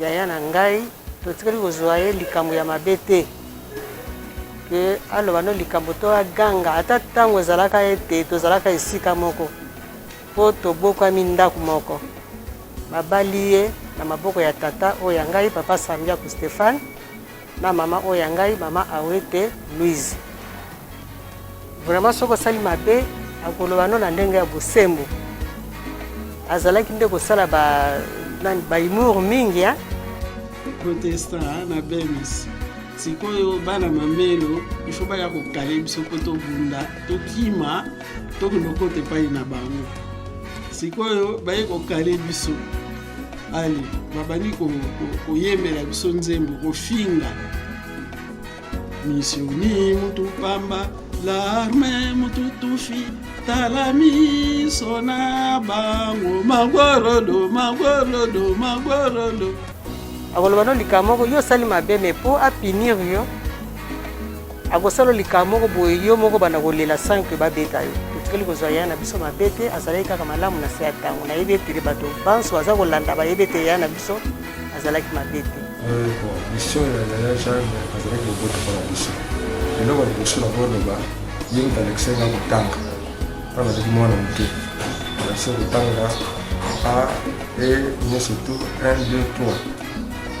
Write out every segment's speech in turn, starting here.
yaya na ngai totikali kozwa ye likambo ya mabe te ke aloba no likambo to aganga ata ntango ezalaka ete tozalaka esika moko mpo tobokwami ndako moko babali ye na maboko ya tata oyo ya ngai papa sambiaku stéphane Na maman oyo ya ngai maman awete Louise vraiment soki osali mabe akoloba no na ndenge ya bosembo azalaki nde kosala ba nani ba humour mingi hein? protesta na bemis sikoyo bana mamelo ifo baya kokale biso mpo tobunda tokima tokende kota epai na bango sikoyo baye kokale biso ali babandi koyembela biso nzembo kofinga misioni mutu pamba larme mutu tufi tala miso na bango magorodo magorodo magorodo akoloba no likambo moko yo osali mabe me mpo apinir yo akosala likambo moko boye yo moko banda kolela sans que babeta yo totikali kozwa ya na biso mabe te azalaki kaka malamu na se ya ntango nayebi etele bato banso baza kolanda bayebi ete ya na biso azalaki mabe te mission ya yaya jeanne azalaki kobota mpona biso eloko ya liboso na koloba ye moto alakisa nga kotanga mpo nazalaki mwana moke alakisa kotanga a e nyonso tu 1 2 3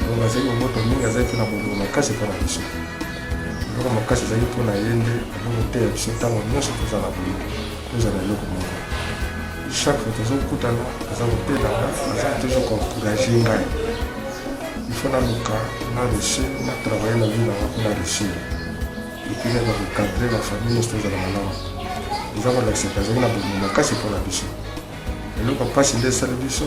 donc azalaki kobota mingi azalaki mpe na bolingo makasi mpo na biso eloko makasi ezali mpo na ye nde azokoteya biso ntango nyonso tozala boye tozala eloko moko chaque fois tozokutana aza kotelanga aza toujours koencourage ngai ifo naluka na reussi na travaille na vie nanga mpo na reussi epuis naza kocadre na famille nyonso tozala malamu eza kolakisa te azali na bolingo makasi mpo na biso eloko mpasi nde esali biso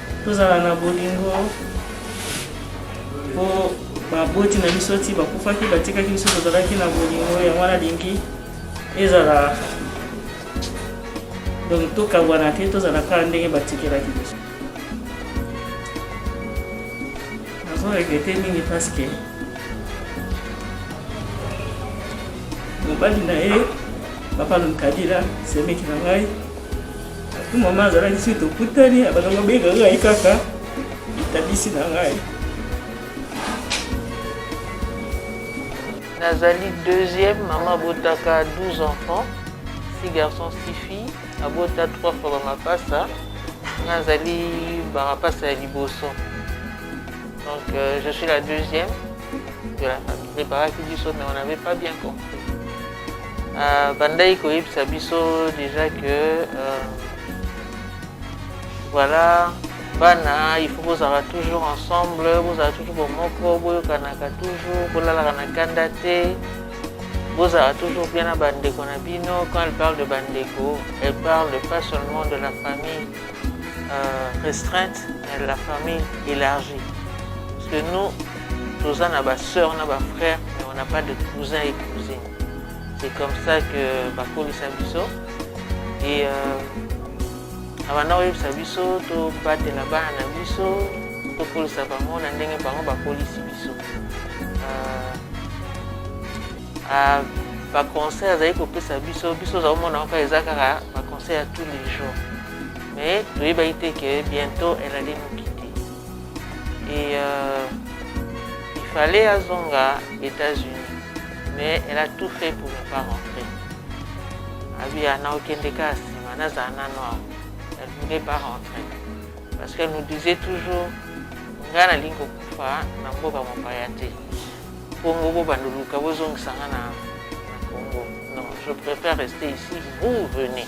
tozala na bolingo po baboti na biso ti bakufaki batikaki biso tozalaki na bolingo yango wana alingi ezala donc tokabwana te tozala kaka ndenge batikelaki biso nazo regrete mingi parce que mobali na ye papa lomkadila semeki na ngai mama azalaki soki tokutani abandaki kobenga ngai kaka litabisi na ngai nazali deuxième mama abotaka 12 enfants six garçons six filles abota trois fois bamapasa nazali bamapasa ya liboso donc euh, je suis la deuxième de la famille preparaki biso mais on n'avait pas bien compris abandaki euh, koyebisa biso déjà que euh, voilà bana il faut bozala toujours ensemble bozala toujours bomoko boyokanaka toujours bolalaka na kanda te bozala toujours bien na bandeko na bino quand elle parle de bandeko elle parle pas seulement de la famille euh, restreinte mais de la famille élargie parce que nous Toza na ba sœurs na ba frères mais on n'a pas de cousins et cousines. C'est comme ça que bakolisa biso et euh, abanda koyebisa biso tobatela bana na biso tokolisa bango na ndenge bango bakolisi biso euh, ah, baconseil azali kopesa biso biso oza komona kaka eza kaka baconseil ya tous les jours mais toyebaki te ke bientôt elle allait nous et euh, il fallait azonga États-Unis mais elle a tout fait pour ne pas rentrer abi ana okende kaka nsima nazala nano awa elle voulait pas rentrer parce qu'elle nous disait toujours ngai nalingi kokufa na mboka mopaya te kongo bobanda oluka bozongisa ngai na congo non je préfère rester ici vous venez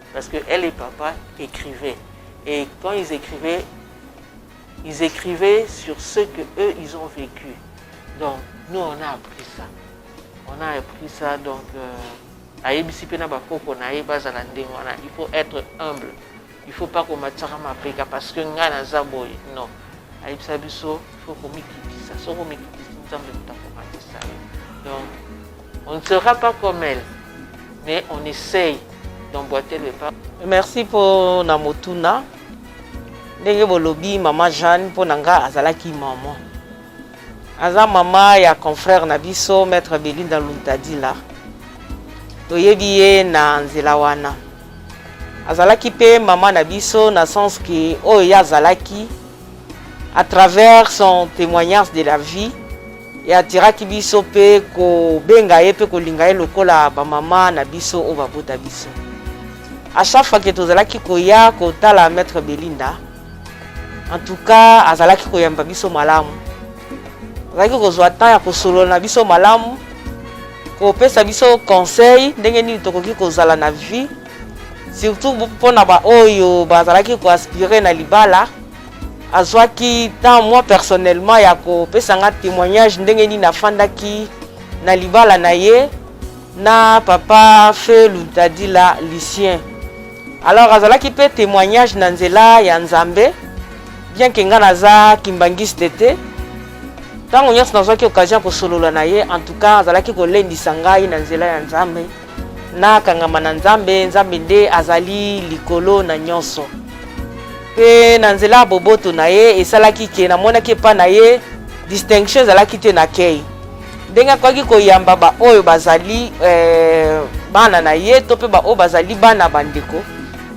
Parce que elle et papa écrivaient. Et quand ils écrivaient, ils écrivaient sur ce que eux ils ont vécu. Donc nous on a appris ça. On a appris ça donc euh, à ebisipe na bakoko na ye bazala ndenge wana. Il faut être humble. Il faut pas komatisaka mapeka parce que ngai naza boye. Non. Ayebisa biso il faut komikitisa. Soki omikitisi Nzambe moto akomatisa yo. Donc On ne sera pas comme elle, mais on essaye d'emboîter le pas. Merci mpo na motuna ndenge bolobi mama Jeanne mpo na nga azalaki mama aza mama ya confrère na biso maître Belinda Luntadila toyebi ye na nzela wana azalaki mpe mama na biso na sens ke oyo ye azalaki À travers son témoignage de la vie, et atiraki biso pe ko benga ye pe ko linga ye lokola ba mama na biso o babota biso. À chaque fois que tozalaki koya kotala maître Belinda, en tout cas azalaki koyamba biso malamu. Azalaki kozwa temps ya kosolola na biso malamu, kopesa biso conseil ndenge nini tokoki kozala na vie surtout mpo na baoyo bazalaki koaspire na libala azwaki temps moi personnellement ya kopesa nga témoignage ndenge nini afandaki na libala na ye na papa fe luntadila lucien alors azalaki mpe témoignage na nzela ya nzambe bien ke nga naza kimbangiste te ntango nyonso nazwaki occasion ya kosolola na ye en tout cas azalaki kolendisa ngai na nzela ya nzambe Nakangama na Nzambe, Nzambe nde azali likolo na nyonso. Mpe na nzela ya boboto na ye esalaki ke namonaki epai na ye distinction ezalaki te na kei ndenge akoki koyamba baoyo bazali eh, bana na ye to mpe baoyo bazali bana bandeko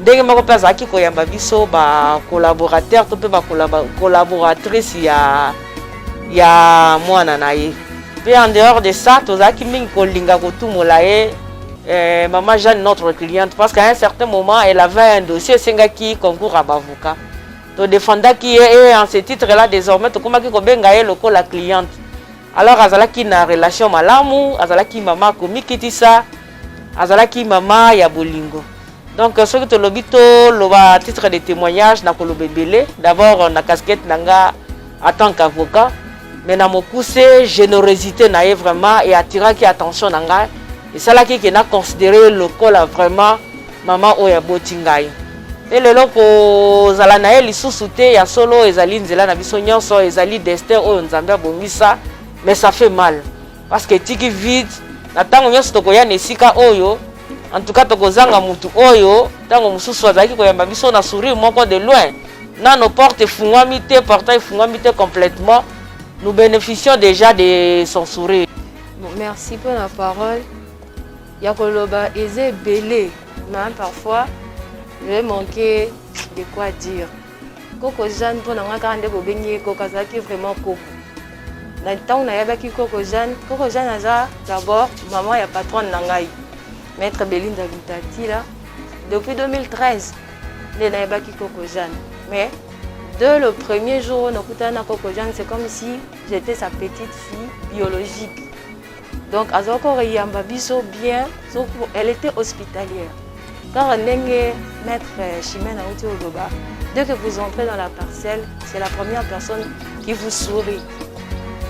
ndenge moko mpe azalaki koyamba biso bacolaborateur to mpe bacolaboratrice ya ya mwana na ye mpe en dehors de ça tozalaki mingi kolinga kotumola ye eh, mama jeanne notre cliente parce qu'à un certain moment elle avait un dossier esengaki concours ya bavocat todefendaki ye e en ce titre là désormais tokomaki kobenga ye lokola cliente alors azalaki na relation malamu azalaki mama komikitisa azalaki mama ya bolingo Donc euh, soki tolobi toloba titre de témoignage nakoloba ebele d'abord euh, na casquette na nga en tant qu'avocat mais na mokuse générosité na ye vraiment e attiraki attention na ngai esalaki ke na considere lokola vraiment mama oyo aboti ngai mpe lelo kozala na ye lisusu te ya solo ezali nzela na biso nyonso ezali destin oyo nzambe abongisa mais ça fait mal parce que etiki vide na ntango nyonso tokoya na esika oyo en tout cas tokozanga motu oyo ntango mosusu azalaki koyamba biso na sourire moko de loin nano porte efungwami te portail efungwami te complètement nous bénéficions déjà de son sourire merci mpo na parole ya koloba eza ebele mais parfois je manque de quoi dire koko jeanne mpo na ngai kaka nde bobengi ye koko azalaki vraiment koko na ntango nayebaki koko jeanne koko jeanne aza d'abord maman ya patronne na ngai maître belinda lutatila depuis 2013 nde nayebaki koko jeanne mais de le premier jour oyo nakutana na koko jeanne c'est comme si j'étais sa petite fille biologique donc azalaki koyamba biso bien elle était hospitalière kaka ndenge maître euh, chimene auti oloba dès que vous entrez dans la parcelle c'est la première personne qui vous sourit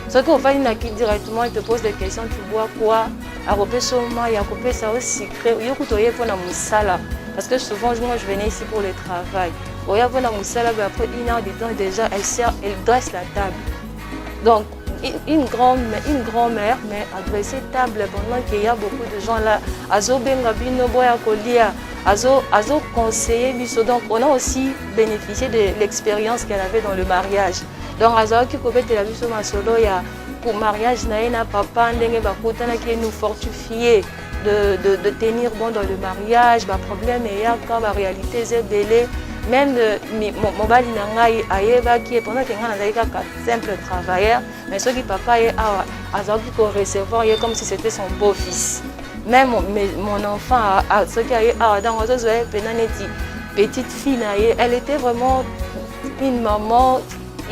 soki ofandi na ki directement il te pose des questions tu bois quoi akopesa yo mai akopesa yo secret yo kutu oye mpo na mosala parce que souvent moi je venais ici pour le travail oya mpo na mosala après une heure de temps déjà elle sert elle dresse la table donc une grande, une grand mère, mais adressé table pendant qu'il y a beaucoup de gens là. Azo benga bino boya kolia, azo azo conseiller biso. Donc on a aussi bénéficié de l'expérience qu'elle avait dans le mariage. Donc azo ki kobete la biso masolo ya pour mariage na na papa ndenge bakutana qui nous fortifier. De, de, de, tenir bon dans le mariage, bah, problème et ya quand la réalité est belée, même euh, mon, mon bali nangai ayeba qui est pendant que ngai nazali kaka simple travailleur mais soki papa ye awa azalaki ko recevoir ye comme si c'était son beau fils même mon enfant soki aye awa ntango azozwa ye mpena neti petite fille na ye elle était vraiment une maman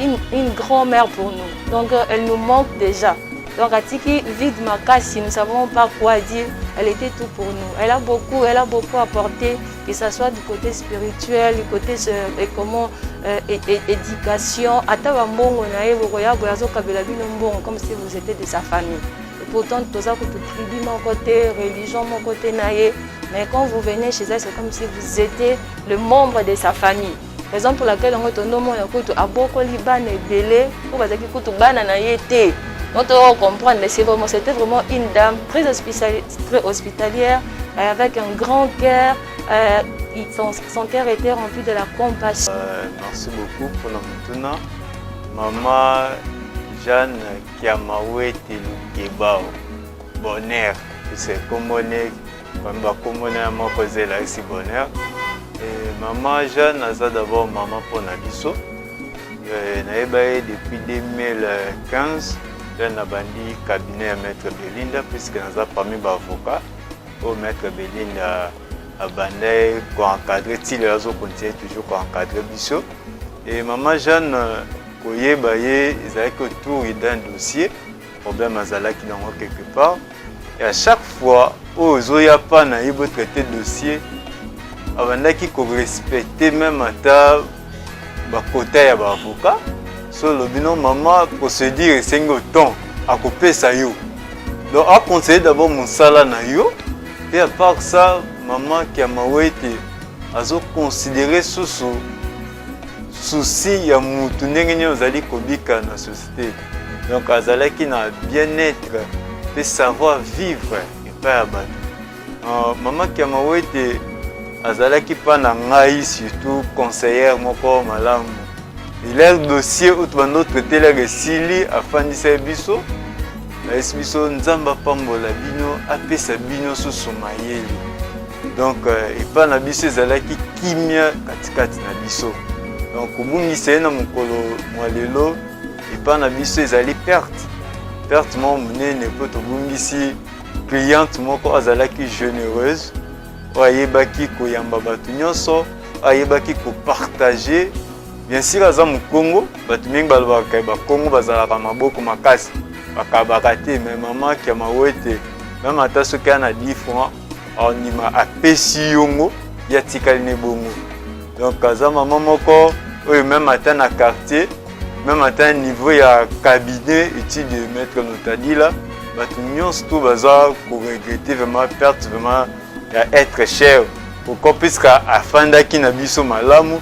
une, une grand mère pour nous donc euh, elle nous manque déjà donc atiki vide makasi nous savons pas quoi dire elle était tout pour nous elle a beaucoup elle a beaucoup apporté que ça soit du côté spirituel, du côté euh, et comment euh, et, et, éducation, ata ba mbongo na ye bokoya boya zo kabela bino mbongo comme si vous étiez de sa famille. Et pourtant toza ko tout tribu mon côté, religion mon côté na ye, mais quand vous venez chez elle c'est comme si vous étiez le membre de sa famille. raison pour laquelle yango tondo omona kutu abokoli bana ebele oyo bazalaki kutu bana na ye te donc toyoko comprendre mais c'est vraiment c'était vraiment une dame très, hospitali très hospitalière euh, avec un grand cœur euh, son, son cœur était rempli de la compassion euh, merci beaucoup pour la motuna maman jeanne kiamawete lukebao bonheur c'est comme on est Bamba kombo na moko zela esi bonheur. Et maman Jeanne aza d'abord maman mpo na biso. Euh, nayeba ye depuis 2015 nde nabandi cabinet ya maître belinda puisque naza parmi baavocat oyo maître belinda abanda ye koencadre ti lelo azokontinue toujours koencadre biso e mama jeanne koyeba ye ezalaki autour d'un dossier Problème azalaki nango quelque part et à chaque fois oyo ozoya pa na ye bo traiter dossier abandaki ko respecter même ata ba quota ya ba avocat so olobi no mama procédure esengi otemp akopesa yo donc aconseille d'abord mosala na yo mpe à part ça mama kiamawete azoconsidere susu susi ya mutu ndenge nini ozali kobika na société te donc azalaki na bien-être mpe savoir vivre epai ya bato euh, mama kiamawete azalaki mpa na ngai surtout conseillère moko malamu iler dossier oyo tobanda otraitelaka esili afandisa ye biso ayesi biso nzambe apambola bino apesa bino susu mayele donc euh, epai na biso ezalaki kimia katikati na biso donc kobungisa ye na mokolo mwa lelo epai na biso ezali perte perte moko monene mpo tobungisi cliente moko azalaki généreuse oyo ayebaki koyamba bato nyonso ayebaki kopartage bien sur aza mokongo bato mingi balobaka bakongo bazalaka maboko makasi bakabaka te me mama kiamawete meme ata soki ana 10 franc andima apesi yongo ye atikali ne bongo donc aza mama moko oyo meme ata na quartier meme ata niveau ya cabinet etude de maître notadila bato nyonso to baza koregrete vraiment perte vraiment ya être cher pourquoi puisque afandaki na biso malamu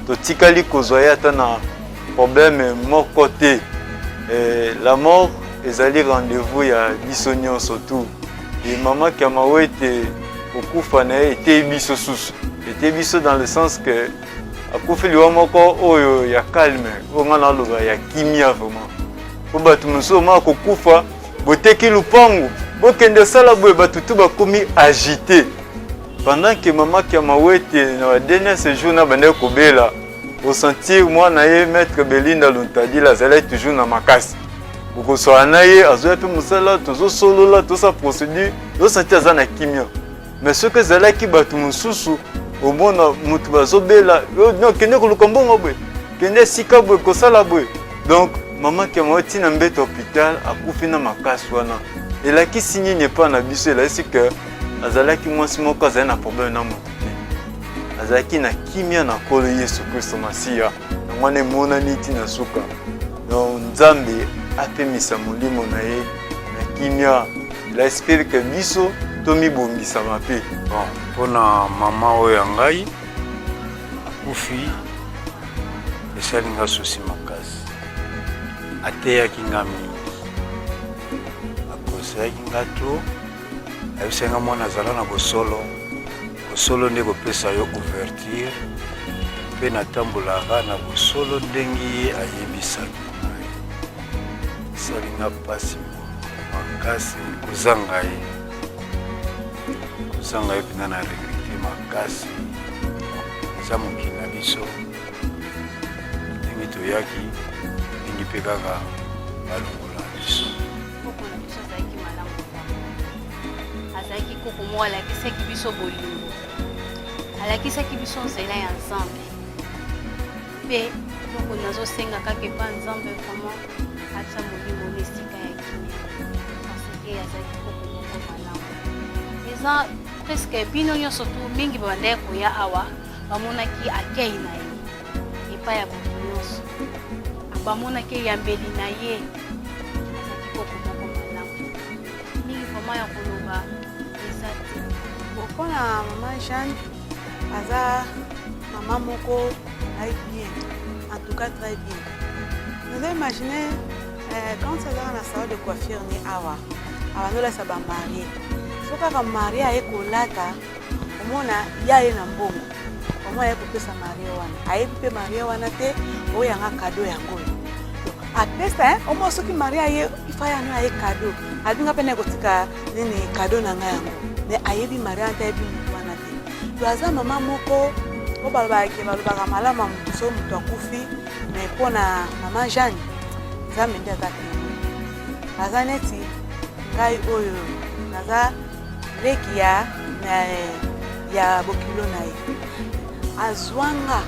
totikali kozwa ye ata na problème moko te eh, la mort ezali rendez-vous ya biso nyonso tout Et maman Kamawete okufa na ye eteyi biso susu eteyi biso dans le sens que akufi liwa moko oyo ya calme oyo ngai naloba ya kimia vraiment mpo bato mosusu omaka kokufa boteki lupangu bokende osala boye bato tu bakomi agite pendant que mama kiamawete na ba dernier séjour na bandaki kobela osentir mwana ye maître belinda luntadila azalaki toujours na makasi okosala na ye azoya mpe mosala tozosolola tosa procédure yosati aza na kimia mais soki ezalaki bato mosusu omona moto bazobela no kende koluka mbongo boye kende esika boye kosala boye donc mama kemao ntina mbeto hopital akufi na makasi wana elakisi nini epai na biso elakisi ke azalaki mwasi moko azali na problème na moto te azalaki na kimia na nkolo yesu kristo masiya yango wana emonani ntina suka Donc Nzambe apemisa molimo na ye na kimia. Il espère que biso tomibongisama mpe. Bon, mpo na mama oyo ya ngai akufi esali nga susi makasi. Ateyaki nga mingi, akoselaki nga trop, ayebisaki nga mwana azala na bosolo Bosolo nde kopesa yo ouverture mpe natambolaka na bosolo ndenge ye ayebisaki ngai. Esalinga mpasi makasi kozanga ye, kozanga ye mpenza na regrete makasi. Eza mokili na biso ndenge toyaki ndenge mpe kaka balongola biso. azalaki koko moko alakisaki biso bolingo alakisaki biso nzela ya nzambe mpe eloko nazosenga kaka epa nzambe vraiment atya molimo na esika ya kimia parceke azalaki koko moko malamu eza preske bino nyonso tu mingi babandaki koya awa bamonaki akei na ye epai ya bato nyonso bamonaki eyambeli na ye mingi vraiment ya koloba eza te mpo na mama jeanne aza mama moko ai bien en tout cas très bien naza imagine euh, quand azaka na salon de coiffure ni awa abanolasa bamarie so kaka marie aye kolata omona ya ye na mbongo yango aye kopesa marie wana ayebi mpe marie wana te oyo yanga kado yango oyo apesa omo soki marie aye ifa yango aye kado abinga mpe naye kotika nini kado na ngai yango me ayebi marie wana te ayebi motu wana te to aza mama moko oyo balobake balobaka malamu ya motu soki motu akufi me mpo na mama jeanne nzambe nde aza te aza neti ngai oyo naza leki ya ya bokilo na ye azwanga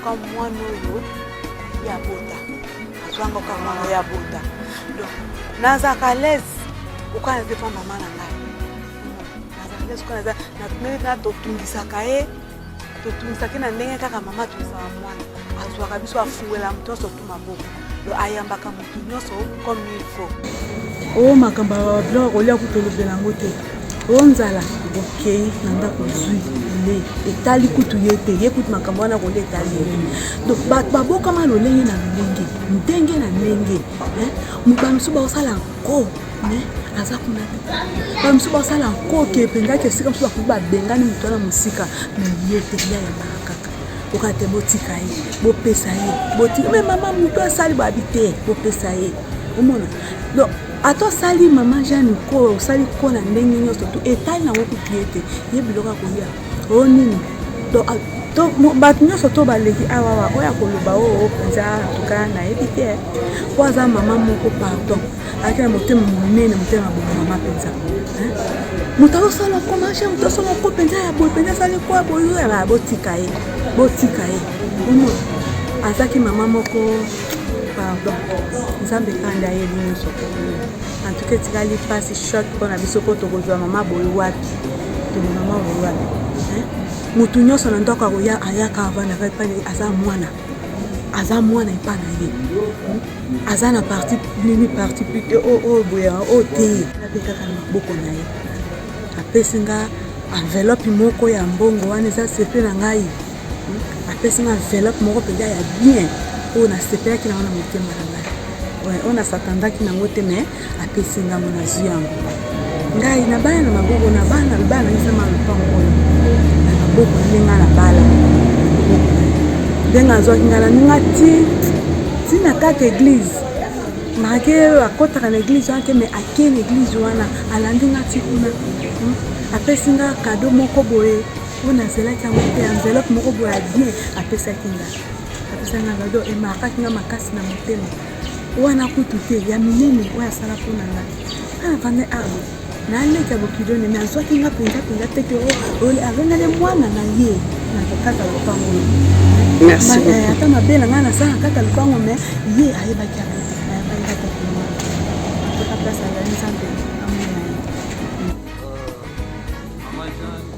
ka mwana oyo ya bota azwanga ka mwana oyo ya bota donc nazalaka alaise okana te mpa mama na ngai nazalaka alaise okana natungisaka ye totungisaki na ndenge kaka mama atungisaka mwana azwaka biso afuwela moto nyonso tu maboko lo ayambaka moto nyonso comme il faut o oh, makambo ya biloko kolia kutu olobela yango te o oh, nzala okei na ndako zwi le etali kutu ye te ye kutu makambo wana kolia etali ye donc babokama lolenge na lolenge ndenge na ndenge mobano mosusu baosala ko me aza kuna te baye mosusu basala nkoki epengaki esika mosusu bakoki babengani moto wana mosika me ye te ya yambaka kaka oka te botika ye bopesa ye botika me mama moto asali babi te bopesa ye omona donc ata osali mama jeanne ko osali ko na ndenge nyonso to etali nango kutu ye te ye biloko akolia oyo nini bato nyonso to baleki awawa oyo akoloba oo mpenza tuka nayebi te mpo aza mama moko pardon ayaki na motema monene motema bomama mpenza moto azosala komashe moto asala ko mpenza ya boye mpenza asali kwa boyoyaba botika ye botika ye ono azaki mama moko pardon nzambe kanda ye nyonso En tout cas etikali pasi choc mpo na biso mpo tokozwa mama boye wapi toli mama boye wapi motu nyonso na ndako akoya ayaka avandaka epai na ye aza mwana aza mwana epai na ye aza na parti nini parti plute oyo oh, oh, boye oyo oh, te ape kaka na maboko na ye apesi nga enveloppe moko ya mbongo wana eza sepe na ngai apesi nga enveloppe moko mpenza ya bien oyo nasepelaki nango na motema na ngai oyo nasatandaki nango te mai apesi ngango nazwi yango ngai na bana na maboko na bana bana nangisama lopango oyo na maboko nde ngai na bala ndenge azwaki ngai na ninga ti ntina kaka eglize marke oyo akotaka na eglize wana te mai akei na eglize wana alandi ngai ti kuna hmm? apesi ngai kado moko boye oyo nazelaki yango te enveloppe moko boye ya bien apesaki nga apesaki nga gado emakaki nga makasi na motema wana kutu te ya minene oyo asala mpo na nga ana vanda arbo naleka bokidone me azwaki nga mpenza mpenza te te alonale mwana na ye na kokata lopango eh, ata mabe na ngai nasala kata lopango me ye ayebaki yango te ayebaki kata lopango toka place azali nzambe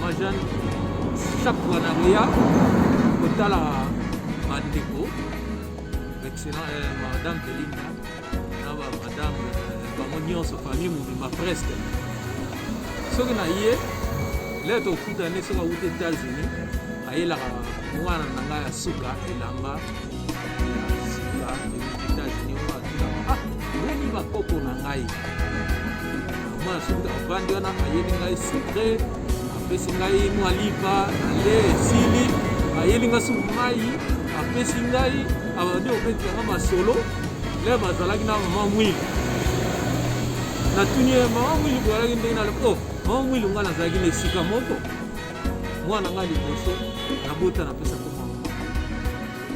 Mama Jeanne, chaque fois na koya kotala bandeko excellent eh, madame Belinda na ba madame eh, bango nyonso famille mobimba presque soki na ye le tokutani soki awuti États-Unis ayelaka mwana na ngai ya suka elamba avandi wana ayeli ngai sucre apesi ngai mwa lipa ale esili ayeli ngai suku mai apesi ngai abandi kobetisa ngai masolo le bazalaki na mama mwili natuni ye mama mwili boyalaki ndenge nalo o oh, mama mwili ngai nazalaki na esika moko mwana nga liboso nabota napesa ko mama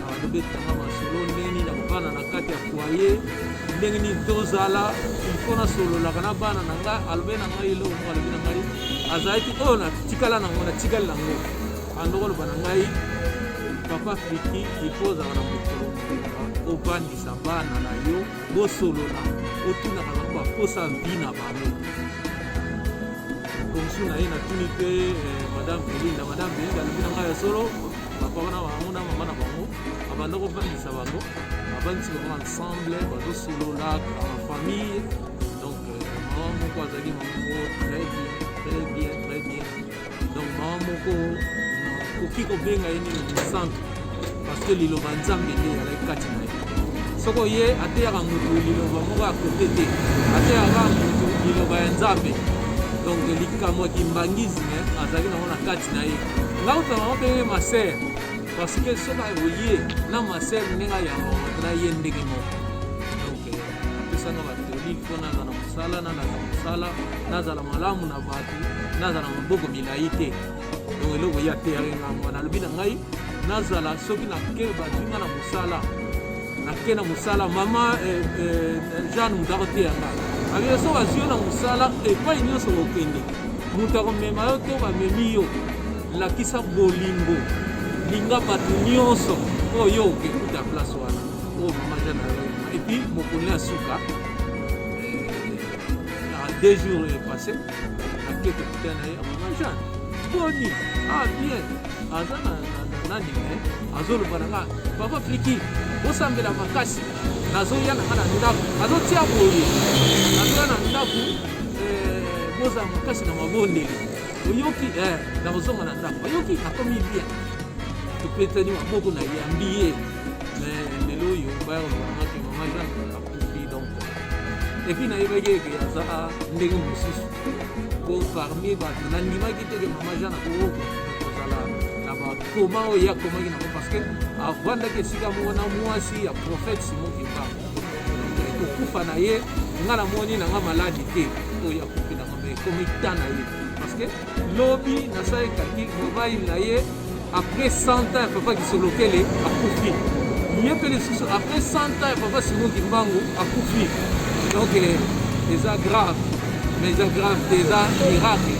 alobetanga masolo ndenge nini nakobana na kati ya foye ndenge nini tozala ilfo nasololaka na bana na ngai alobe na ngai eloko moko alobi na ngai azalaki oyo natikala nango natikali nango andoko aloba na ngai papa friki ilfo ozalaka na mokolo obandisa bana na yo bosolola otunaka bango baposa vi na bango komisio na ye natuni mpe eh, madame belinda madame belinda alobi na ngai ya solo bapapa na bango na mama na bango abanda kofandisa bango abandisi bango ensemble bazosolola en famille donc eh, mama moko azali mama moko très bien très bien très bien donc mawa moko okoki kobenga ye nini mosantu parce que liloba nzambe nde ezalaki kati na ye soko ye ateyaka motu liloba moko ya kote te ateyaka motu liloba ya nzambe donc likambo ya kimbangisme azalaki nango na kati na ye ngai otala yango mpe masere parce que soki akoye na masere ndenge ayamba moto na ye ndenge moko donc apesanga batoli mpo nazala mosala na nazala mosala nazala malamu na bato nazala na maboko milai te donc eloko ye ateyaki nga mwana alobi na ngai nazala soki nake bazwi nga na mosala nake na mosala mama eh, eh, jeanne moto akoteya nga abie so bazwi yo na mosala epai nyonso kokende moto akomema yo to bamemi yo lakisa bolingo linga bato nyonso oyo yo okekuta place wana oyo mama jeanne epuis mokoli ya suka Na deux jours est passé, na kiek putain na ye, mama Jean, boni, ah bien, aza na nani me eh? azoloba na nga papa pliki bosambela makasi nazoya na nga na ndako azotia boye nazoya na ndako eh, bozala makasi na mabondeli oyoki eh, nakozonga na ndako oyoki akomi bien topetani maboko na yambi ye lelo oyo bayakolobamaki mama jane epuis nayebaki eke aza ndenge mosusu po parmi bato nandimaki te ke mama jean nakokoka kozala na bakoma oyo ye akomaki nango parce que avandaki esika moko na mwasi ya prophète simon kimba kokufa na ye nga namoni nanga maladi te oyo akoki nanga me ekomi ta na ye parce que lobi nasali kalkil mobali na ye après 100 ans ya papa kisolokele akufi ye mpe lisusu après 100 ans ya papa simon kimbangu akufi donc eh, eza grave mais eza grave te eza miracle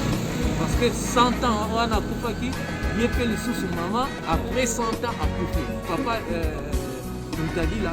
parce que 100 ans wana akufaki ye mpe lisusu mama après 100 ans akufi papa euh, mutadila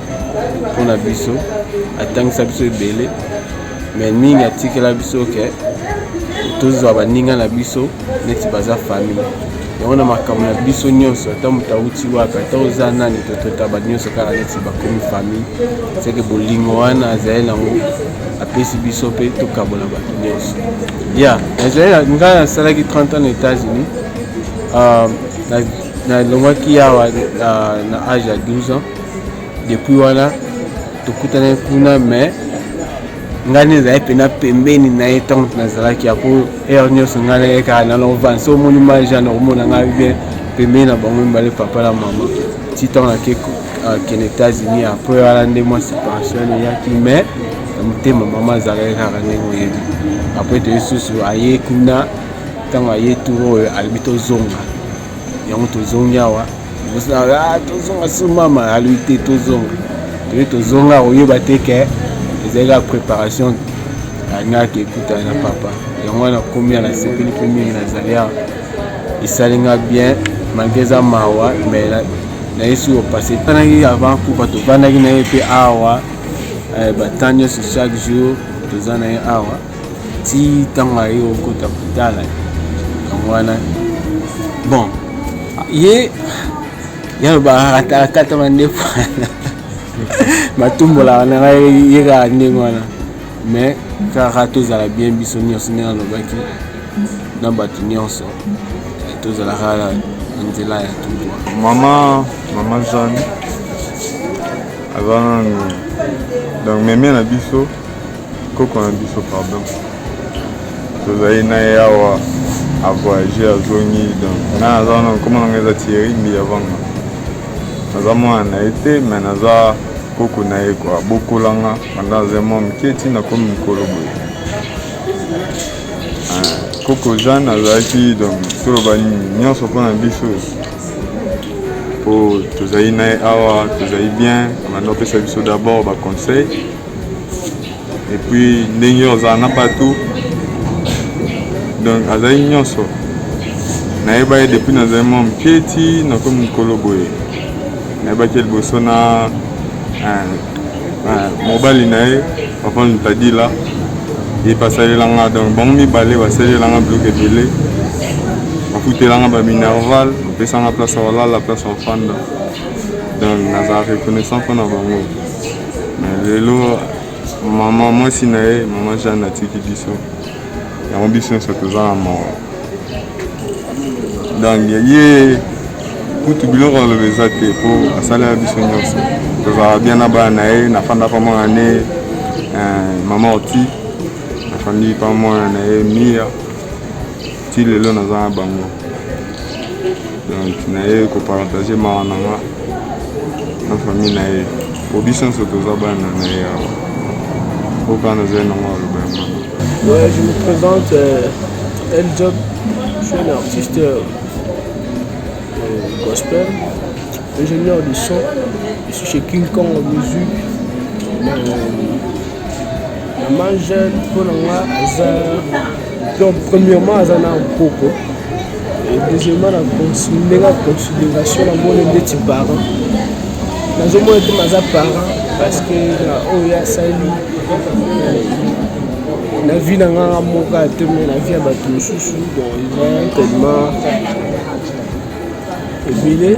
mpo na biso atangisa biso ebele me mingi atikela biso ke tozwa baninga na biso neti baza famille yango na makambo na biso nyonso ata moto auti wapi ata oza nani tototaba nyonso kaka neti bakomi famille seke bolingo wana azali nango apesi biso mpe tokabola bato nyonso ya nazali ngai nasalaki 30 ans na états-unis ah, nalongwaki yawa ah, na age ya 12 ans depuis wana tokutani kuna mais ngai nde ezali mpena pembeni na ye ntango nazalaki yako heure nyonso ngai na ye kaka na lovange so omoni maja na komona ngai bien pembeni na bango mibale papa na mama ti ntango nake akende états-unis après wana nde mwa séparation eyaki mais na motema mama azalaki kaka ndenge oyebi après toyesusu aye kuna ntango aye tour oyo alobi tozonga yango tozongi awa ah, tozonga su mama alui te tozonga toye tozonga koyeba te ke ezali kaka préparation alingaka ekutana na papa yango wana komi ya nasepeli mpe mingi nazali awa esali nga bien malgre eza mawa mais nayesi kopase tanaki avant kufa tofandaki na ye mpe awa eh, batemps nyonso chaque jour toza na ye awa ti ntango aye okota kotala yango wana bon ye yaloba akatakata mandefu wana matumbola wana ngai ye kaka ndenge wana mais kaka tozala bien biso nyonso ndenge alobaki na bato nyonso tozalaka na nzela ya tubwa mama mama jeanne aza nanu donc meme na biso Koko na biso pardon. Tozali na ye awa a voyager azongi donc na aza wana nkoma nanga eza Thierry Mbiya Vanga. Naza mwana na ye te mais naza koko na ye kwa bokolanga banda aza mwa moke ti nakomi mokolo boye ah, koko jeanne azalaki donc toloba nini nyonso mpo na biso mpo tozali na ye awa tozali bien banda opesa biso d'abord baconseil et puis ndenge ozala na bato donc azali nyonso nayeba ye depuis nazali mwa moke ti nakomi mokolo boye nayebaki liboso na mobali na ye papa lutadila ye basalelanga donc bango mibale basalelanga biloko ebele bafutelanga baminerval bapesanga place ya kolala place ya ofanda donc nazala reconnaissant mpo na bango lelo mama mwasi na ye mama jeanne atiki biso yango biso nyonso toza na mawa donc ye kutu biloko aloba eza te mpo asalaka biso nyonso tozalaka bien na bana na ye nafanda pa mwana ne eh, mama orti nafandi pa mwana na ye mia ti lelo naza na bango donc naye kopartage mawa na nga na famille na ye po biso nyonso toza bana na ye awa oka nazali nango aloba ya mama Ouais, je me présente, euh, El Job, je suis un artiste euh, gospel, ingénieur du son, je suis chez King Kong Music, euh, la main jeune, pour la moi, Donc premièrement aza na mpoko et deuxièmement na ndenge ya considération na moni ndeti parent nazomona te maza parent parce que na oyo asali na vie na nganga moka te me na vie ya bato mosusu donc eza tellement ebele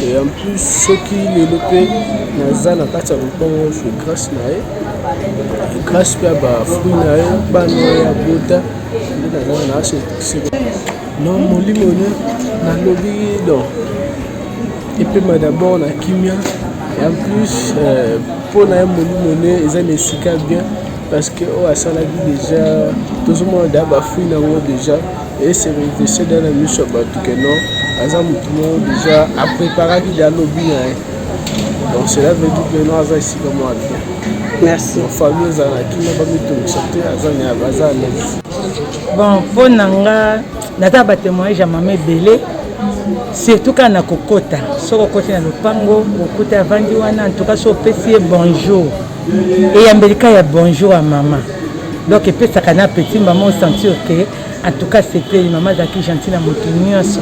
et en plus soki lelo mpe naza na kati ya lopango je grâce na ye grâce mpe ya bafruit na ye bana ya bota nde nazala na aseseko non molimo ne nalobi don epema d'abord na kimia et en plus mpo euh, na ye molimo ne eza na esika bien parce que oyo asalaki deja tozomona deja ba fruit na yango deja ese revese deja na miso ya bato ke non aza motu moko deja apreparaki deja lobi na ye donc cela veut dire que non aza esika mwa bien merci famille ezala na kimia bamitungisa te aza aza alaise bon mpo na nga naza batemoignage ya mama ebele surtout kaka na kokota soki okoti na lopango okuta avandi wana antuka so opesi ye bonjour eyambelika ya bonjour ya mama donc epesaka na petit mama osentir ke atuka sepeli mama azalaki gentil na moto nyonso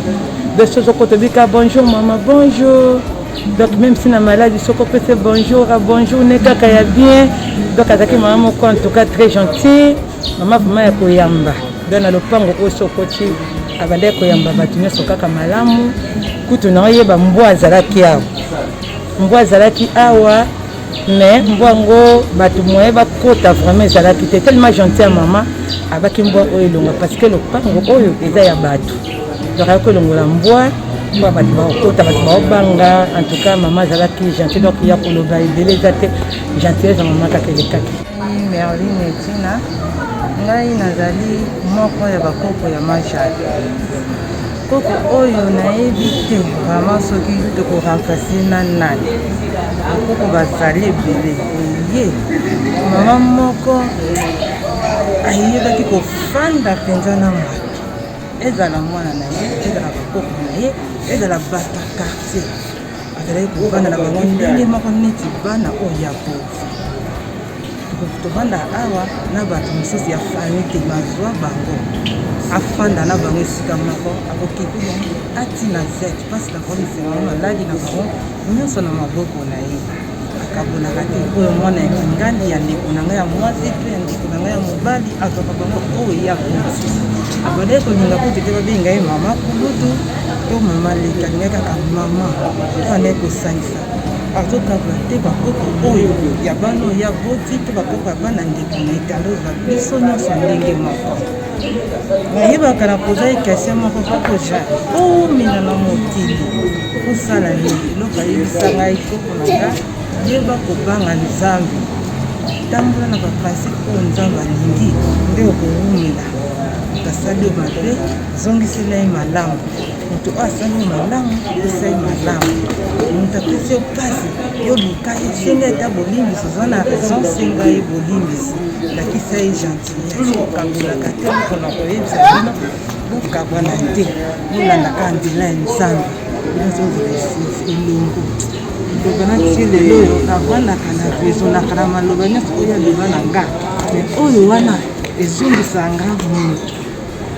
donc soki ozokota obika bonjour mama bonjour donc même si na maladi soki opese bonjour a bonjour ne kaka ya bien donc azalaki mama moko en tout cas très gentil mama vraiment ya koyamba donc na lopango oyo soki okoti abandaki koyamba bato nyonso kaka malamu kutu na oyeba mbwa azalaki awa mbwa azalaki awa mais mbwa yango bato moye bakota vraiment ezalaki te tellement gentil ya mama abaki mbwa oyo elonga parce que lopango oyo eza ya bato donc ayaki kolongola mbwa mpo bato bakokota bato baobanga en tout cas mama azalaki gentil donc ya koloba ebele eza te gentillese ya mama kaka elekaki merline etina ngai nazali moko ya bakoko ya majal Koko oyo nayebi te vraiment soki toko remplacer na nani bakoko bazali ebele eye mama moko ayebaki kofanda mpenza na moto ezala mwana na ye ezala bakoko na ye ezala bato ya quartier azalaki kofanda na bango ndenge moko neti bana oyo ya kofi tofanda awa na bato mosusu ya famille te bazwa bango afanda na bango esika moko akokipe bango atina zete mpasi na bango misengo maladi na bango nyonso na maboko na ye akabolaka te oyo mwana ya kingandi ya ndeko na ngai ya mwasi to ya ndeko na ngai ya mobali azwaka bango oyo ya kulutu abandaki kolinga kutu te babenga ye mama kulutu to mama leki alingai kaka mama abandaki kosangisa azokabola te bakoko oyo ya bana oyo aboti to bakoko ya bana ndeko na etando biso nyonso ndenge moko nayebaka na poza ye question moko koko ja omina na mokili kosala nini eloko ayebisa ngai koko na nga yeba kobanga nzambe tambola na baprincipe oyo nzambe alingi nde okowumela asali yo mabe zongisela ye malamu moto oyo asali yo malamu pesa ye malamu moto apesi yo mpasi yo luka ye senga ye ata bolimbisi oza na raison senga ye bolimbisi lakisa ye gentil bino bokabolaka te mpona koyebisa bino bokabwana te bolandaka nzela ya nzambe elongo loba na ti lelo oyo navandaka na rezonaka na maloba nyonso oyo aloba na nga me oyo wana ezongisa nga moto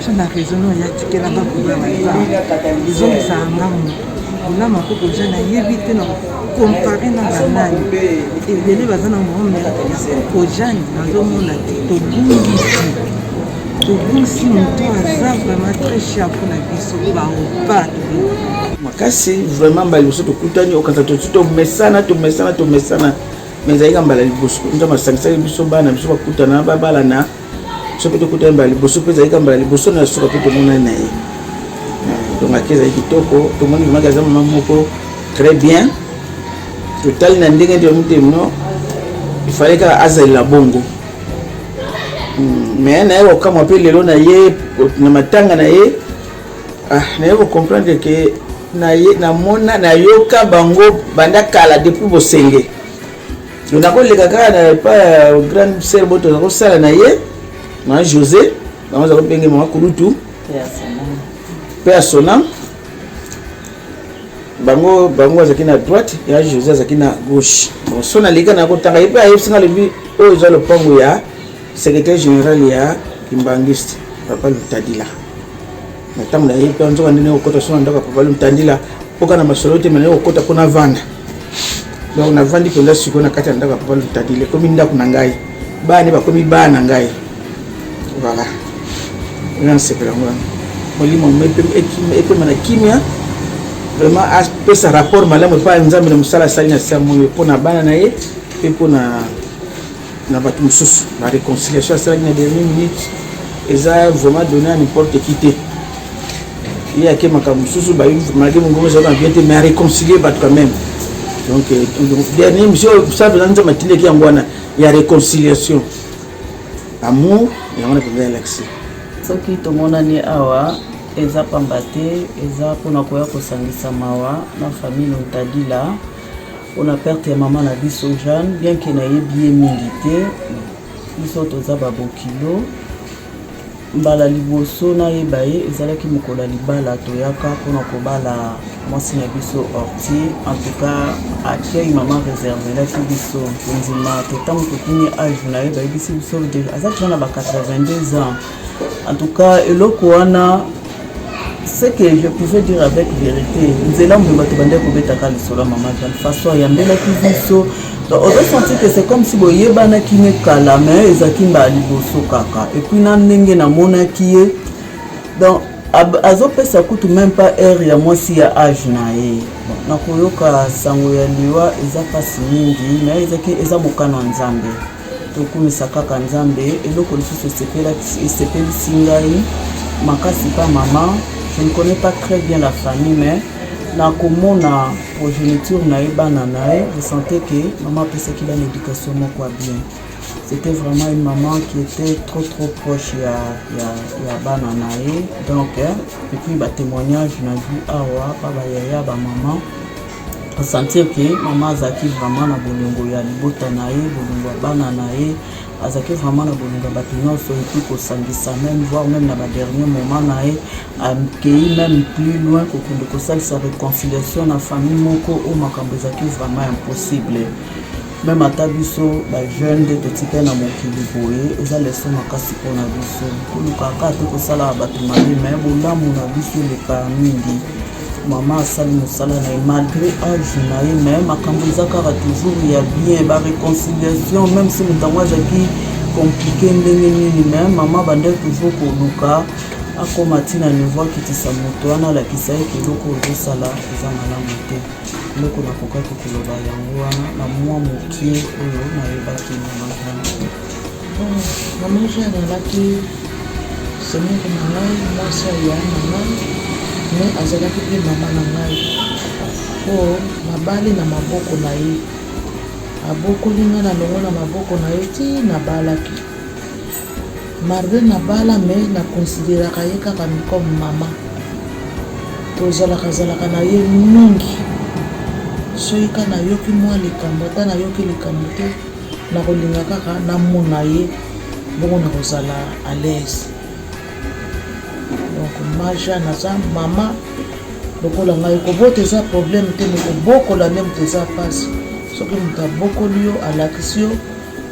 so na raison oyo yatikela bakobla baza ezongisaka nga moto olama mpo boza nayebi te na kompare na banani ebele baza na moome ya kojani nazomona te tobungisi tobungisi moto aza vraiment très cher mpo na biso baopa makasi vraiment mbala liboso tokutani okata tosi tomesana tomesana tomesana mais ezalika mbala liboso nzambe asangisaki biso bana biso bakutana babalana soki tokutani mbala liboso mpe ezalaki mbala liboso na suka mpe tomonani na ye donc ake ezali kitoko tomoni vremaki aza mama moko très bien totali na ndenge nde motema no ifale kaka azalela bongo hmm, mais naye kokamwa mpe lelo na ye na matanga na ye ah, naye kocomprendre ke namona nayoka bango banda kala depuis bosenge nakoleka kaka na epa ya grande sœur boto nakosala na ye na josé bango aza kopenge mama kulutu mpe ya sona bango bango azalaki na droite ya josé azalaki na gauche bon so naleka nakotanga ye mpe ayebisi nga alobi oyo eza lopango ya secrétaire général ya kimbangiste papa lutadila na ntango na ye mpe nzoka nde naye kokota so na ndako ya papa lomtandila mpoka na masolo te me naye kokota mpo navanda donc navandi mpenza sikoyo na kati ya ndako ya papa lomtandila ekomi ndako na ngai bana bakomi bana na ngai voilà ena nasepela yango wana molimo epema na kimia vraiment apesa rapport malamu epai ya nzambe na mosala asali na siamoyo mpo na bana na ye mpe mpo na na bato mosusu na réconciliation asalaki na dernier minute eza vraiment donné à n'importe qui te ye ake makambo mosusu malgré mongongo ezalaki na bien te mais aréconcilie bato quand même donc euh, dernier mission sa mpenza nzambe atindaki yango wana ya réconciliation amour yango na mpenza yalakisi soki tomonani awa eza pamba te eza mpona koya kosangisa mawa na famille lontadila pona perte ya mama na biso Jeanne bien ke nayebi ye mingi te biso toza babokilo mbala liboso nayeba ye ezalaki mokolo ya libala toyaka mpona kobala mwasi na biso orti en tout cas accueil mama réservelaki biso kondima te ntango tokimi age na ye bayebisi biso aza tena na ba 82 ans En tout cas, eloko wana ce que je pouvais dire avec vérité nzela moye bato bandaki kobetaka lisolo ya mama val façon ayambelaki biso ozosentir que c'est comme si boyebanaki ne kala mais ezalaki mbala liboso kaka epuis na ndenge namonaki ye donc azopesa kutu meme pas heure ya mwasi ya age na ye nakoyoka sango ya liwa eza mpasi mingi mais ezaki eza mokano ya nzambe tokumisa kaka nzambe eloko lisusu esepelisi ngai makasi pa mama je ne connais pas très bien la famille mais nakomona progéniture na ye bana na ye je sentais que mama apesaki bana éducation moko ya bien c'était vraiment une maman qui était trop trop proche ya, ya, ya bana na ye donc eh, epuis batémoignage na vie awa pa bayaya bamama na sentir ke mama azalaki vraiment na bolingo ya libota na ye bolingo ya bana na ye azalaki vraiment na bolingo ya bato nyonso epi kosangisa meme voir meme na badernier moment na ye akei meme plus loin kokende kosalisa réconciliation na famille moko oyo makambo ezalaki vraiment impossible Meme ata biso ba jeune nde totikali na mokili boye, eza leso makasi mpo na biso. Koluka kaka te kosalaka bato mabe, me bolamu na biso elekaka mingi. Mama asali mosala na ye malgre age na ye, me makambo eza kaka toujours ya bien, ba reconciliation meme si moto yango azalaki komplike ndenge nini, me mama bandaki toujours koluka akoma ntina niveau akitisa moto wana alakisa ye ke eloko oyo ozosala eza malamu te. eloko nakokaki koloba yango wana na mwa mokie oyo nayebaki na makambo na mesa ezalaki semeki na ngai mwasi ya yaya na ngai me azalaki mpe mama na ngai mpo nabali na maboko na ye abokoli ngai na longo na maboko na ye ti nabalaki Marvin na bala mais na consideraka ye kaka comme maman tozalaka zalaka na ye mingi soki ka nayoki mwa likambo ata nayoki likambo te nakolinga kaka namona ye bongo nakozala à l'aise donc maja naza mama lokola ngai kobota eza problème te me kobokola nde moto eza mpasi soki moto abokoli yo alakisi yo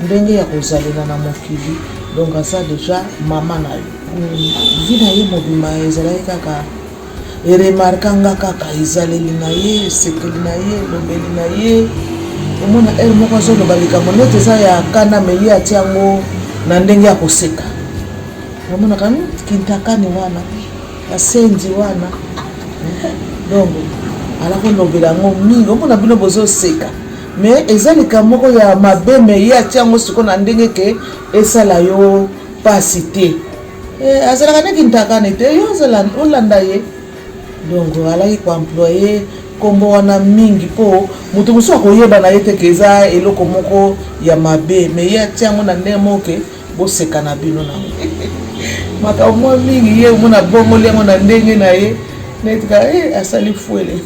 ndenge ya kozalela na mokili donc aza deja mama na yo vi na ye mobima ezalaki kaka eremarka nga kaka ezaleli na ye esekeli na ye elobeli na ye omona ele moko azoloba likambo neti eza ya kana me ye ati yango na ndenge ya koseka omonaka hmm, kintakani wana basenzi wana donc ala kolobela yango mingi omona bino bozoseka Mais eza likambo moko ya mabe mais ye atia yango siko na ndenge ke esala yo pasi te eh, azalaka nde kintakane te yo olanda ye donc alaki koemploye nkombo wana mingi mpo moto mosusu akoyeba na ye te ke eza eloko moko ya mabe me ye atia yango na ndenge moko ke boseka na bino nango makambo mwa mingi ye omona bongoli yango na ndenge na ye netika eh, asali fwele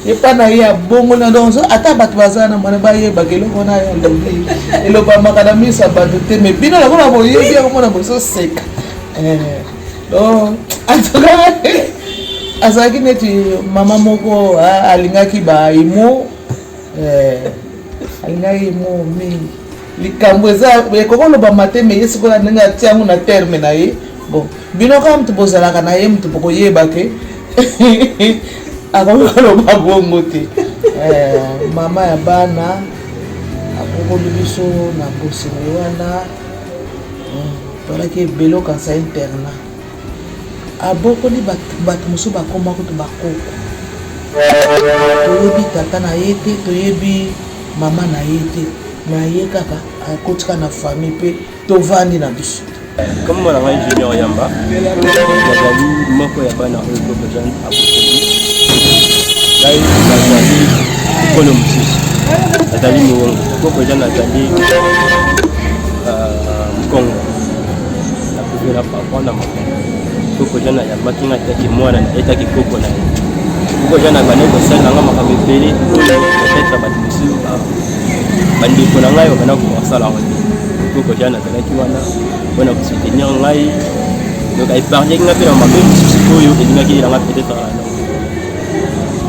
epa na ye abongoli yango ata bato baza na mwana bayebaka eloko wana ya lobi elobamaka na miso ya bato te me bino lokola boyebi yango mona bozoseka eh, donc antuka azalaki neti mama moko alingaki baimo eh, alingaki imo mingi likambo eza ekoki olobama te mais ye sikoyo ndenge atia yango na terme na ye bon bino kaka moto bozalaka na ye moto bokoyeba ke akoki koloba bongo te eh, mama ya bana akokoli biso na bosengo wana hmm, tolaki ebele okanisa interna Abokoli bato, bato mosusu bakoma kutu bakoko. Toyebi tata na ye te, toyebi mama na ye te, mais ye kaka akoti kaka na famille mpe tovandi na biso. Kombo na ngai Junior Yamba, nazali moko ya bana oyo Bobo Jean aboteli ngai. Nazali mokolo mosusu, nazali mowongo. Bobo Jean azali euh, mkongo kozela papa na mama koko jana ayambaki nga etaki mwana na etaki koko na ye koko jana abandaki kosalela nga makambo ebele oyo peut-être bato mosusu bandeko na ngai babanda kokosala yango te koko jana azalaki wana mpona kosoutenir ngai donc aepargnaki nga mpe na mabe mosusu oyo elingaki yelanga peut-être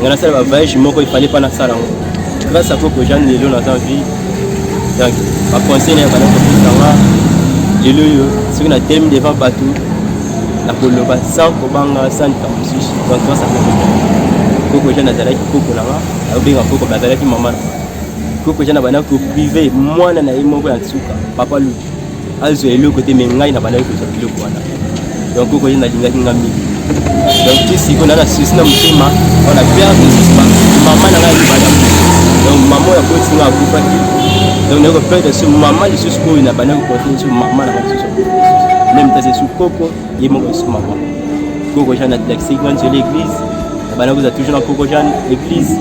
nga nasala ba voyage moko ifale mpa nasala yango grâce à koko jean lelo naza vie donc baconseil naye bana kopisanga lelo oyo soki na temi devant bato nakoloba sans kobanga sans likambo mosusu donc grâce à koko koko jean azalaki koko na nga akobenga koko me azalaki mama na nga koko jean abanda koprive mwana na ye moko ya nsuka papa luki azwa eloko te mais ngai na bandaki kozwa biloko wana donc okoye nalingaki nga mingi donc ti siko na na susi na motema wana perte susi mama na ngai alibala donc mama oyo akoti nga akufaki donc naye koperdre so mama lisusu oyo na bandaki kokote lisusu mama na ngai lisusu meme tase su koko ye moko lisusu makambo koko jean atlakisaki wana nzela église abanda kozala toujours na koko jean église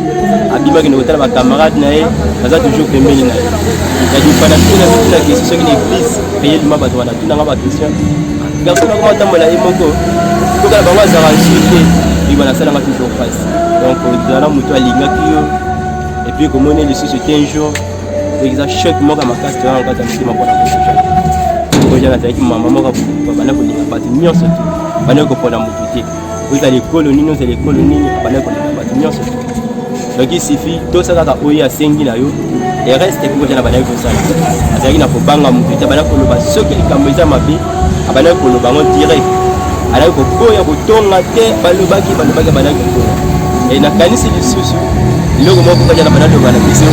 abimaki na kotala bacamarade na ye aza toujours pembeni na ye yadifana tuna tuna question soki na église reyelima bato wana tunanga baquestion garçon nakoma atambola ye moko tokala bango azalaka nsu te ebi banasalanga toujours face donc ozala moto alingaki yo epuis komoni lisusu te un jour eza choc moko ya makasi toza na kati ya motema mpona kosoka oyo nazalaki mama moko banda kolinga bato nyonso te banda kopona moto te ozala ekolo nini ozala ekolo nini banda kolinga bato nyonso te donc isifi tosala kaka oyo asengi na yo ereste ekokoja na bandaki kosala azalaki na kobanga moto te banda koloba soki likambo eza mabe abandaki koloba yango direct alaki koboya kotonga te balobaki balobaki abandaki koboya e nakanisi lisusu eloko moko kaka na banaloba na biso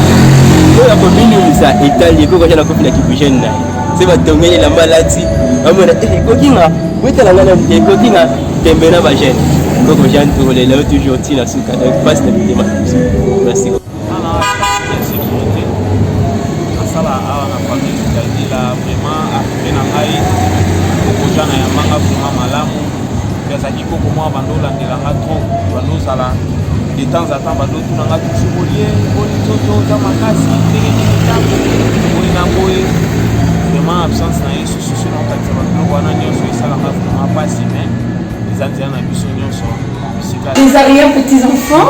oyo akominimisa etali ekoki kaka na kopi na kibujene na ye se batongeli elamba alati bamona eh, ekoki nga wetala nga na ekoki nga tembe na bagene koko jean tourlela yo toujours ntina suka donc pasi na mitema na biso nasala awa na famille kadila vraiment arrive na ngai kokoja na yamanga vraiment malamu mpe azalaki koko mwa bando olandela nga trop bando ozala de temps à temps bando otuna nga tusu bolie boni toto oza makasi ndenge nini ntango boye na boye vraiment absence na ye sususu na kokatisa babiloko wana nyonso esalaka vraiment mpasi mais eza nzela na biso nyonso bisika les arrière petits enfants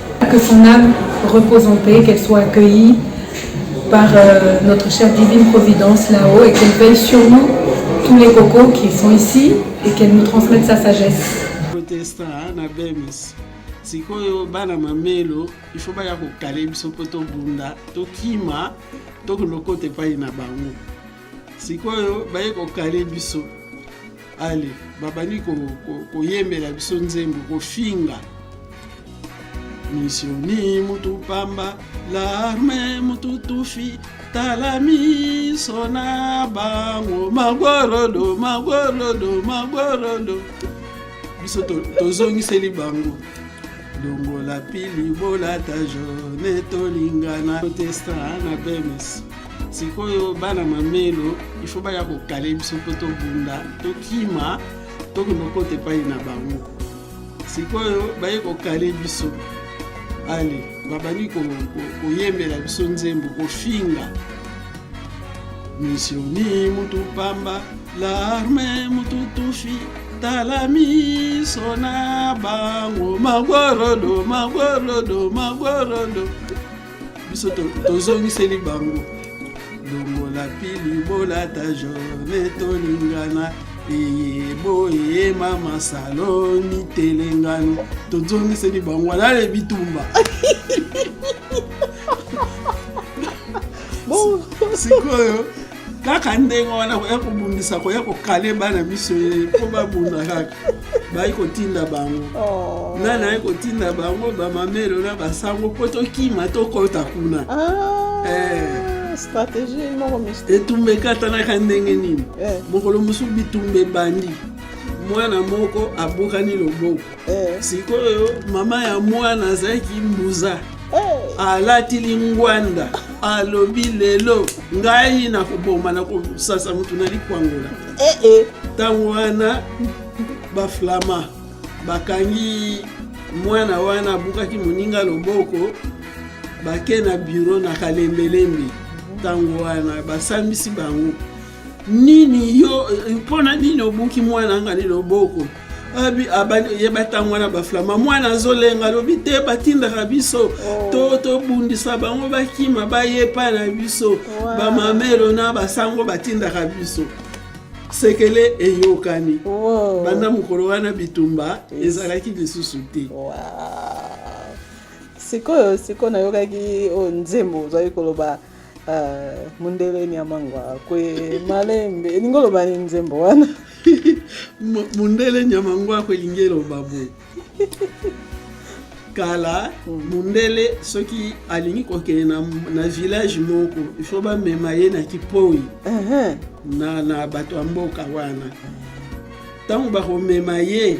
Que son âme repose en paix, qu'elle soit accueillie par euh, notre chère divine providence là-haut et qu'elle veille sur nous, tous les cocos qui sont ici, et qu'elle nous transmette sa sagesse. Protesta hein, na BEMS. sikoyo bana mamelo ifo baya kokale biso mpo tobunda tokima tokolokota epai na bango sikoyo baye kokale biso ale babandi koyembela ko, ko biso nzembo kofinga misioni mutu pamba larme mutu tufi tala miso na bango magorodo magorodo magorodo biso tozongiseli to bango longola pili bolata jone tolingana protestant na bemes sikoyo bana mamelo ifo baya kokale biso mpo tobunda tokima tokende okota epai na bango sikoyo baye kokale biso ale babandi koyembela biso nzembo kofinga misioni mutu pamba larme mutu tufi tala miso na bango magorodo magorodo magorodo biso tozongiseli bango longola pili bolata jone tolingana eye boye mama saloni telengano tozongiseli bango wana ale bitumba sikoyo kaka ndenge wana koya kobundisa koya kokale bana miso ye mpo babunda kaka bayi kotinda bango oh. nani ayi kotinda bango bamamelo na basango mpo tokima tokota kuna ah, eh. etumba ekatanaka ndenge nini eh. mokolo mosusu bitumba ebandi mwana moko abukani loboko eh. sikoyo mama ya mwana azalaki mbuza eh. alati lingwanda alobi lelo ngai nakoboma na kosasa motu na likwangola eh, ntango wana baflama bakangi mwana wana abukaki moninga loboko bake na biro na kalembelembe ntango wana basambisi bango nini yo mpo na nini obuki mwana nga ni loboko abi abandi ye batango wana baflama mwana azolenga alobi te batindaka biso oh. to tobundisa bango bakima baye epai na biso bamamelo na basango batindaka biso sekele eyokani oh. banda mokolo wana bitumba ezalaki lisusu te sikoyo sikoyo nayokaki oyo oh, nzembo ozali koloba Ah, mundele nyama ngwakwe malembe elingi oloba nini nzembo wana mundele nyama ngwakwe elingi eloba boye kala hmm. mundele soki alingi kokende na, na village moko ifo bamema ye na kipoi uh -huh. na, na bato ya mboka wana ntango bakomema ye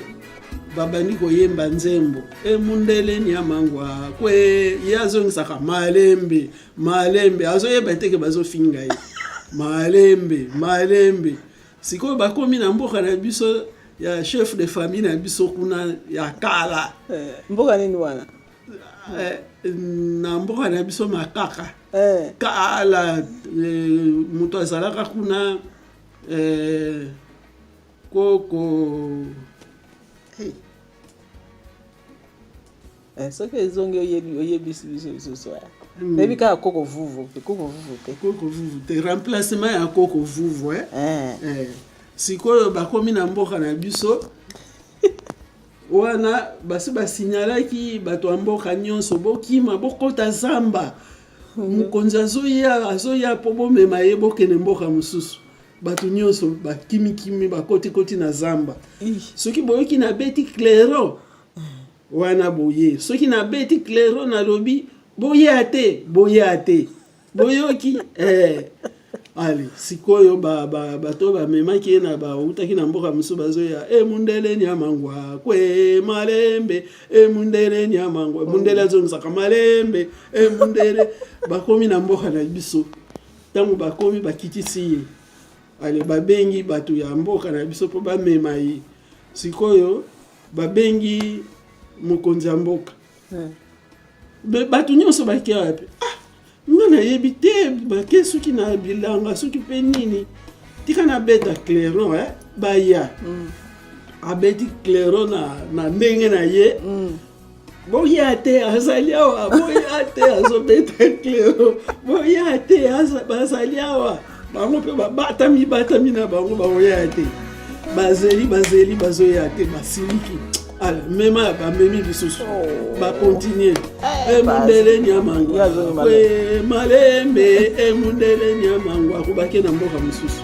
babandi koyemba nzembo emundele niamangwa kwe ye azongisaka malembe malembe azoyeba eteke bazofinga ye malembe malembe sikoyo bakomi na mboka na biso ya chef de famille na biso kuna ya kala eh, mboka nini wana eh, na mboka na biso makaka eh. kala moto azalaka kuna koko hey. Eh, soki ezongi oyebisi biso lisusu aya hmm. nayebi kaka koko vuvu te koko vuvu te koko vuvu te remplacement ya koko vuvu eh? Eh. Eh. sikoyo bakomi na mboka na biso wana basi basinyalaki bato ya mboka nyonso bokima bokota zamba hmm. mokonzi azoya azoya mpo bomema ye bokende mboka mosusu bato nyonso bakimikimi bakotikoti na zamba soki boyoki nabeti clairon wana boye soki nabeti clairon nalobi boya te boya te boyoki eh. ale sikoyo bato ba, ba, oyo bamemaki ye na bautaki na mboka mosusu bazoya e mundele niamangwa kwe malembe e mundele niamangwa mundele azongisaka malembe e mundele bakomi na mboka na biso Ntango bakomi bakitisi ye ale, babengi bato ya mboka na biso mpo bamema ye. Sikoyo babengi mokonzi ya mboka hmm. bato nyonso bakei wapi? Ah, nga nayebi te, bake soki na bilanga soki mpe nini, tika nabeta clairon eh? baya hmm. abeti clairon na, na ndenge na ye hmm. boya te azali awa boya te azobeta clero boya te bazali awa bango mpe babatami batami na bango bakoya te bazeli bazeli bazoya te basiliki ala mema ya bamemi lisusu oh. bakontinue emundele eh, eh, nyamango malembe emundele eh, nyamango akobaki na mboka mosusu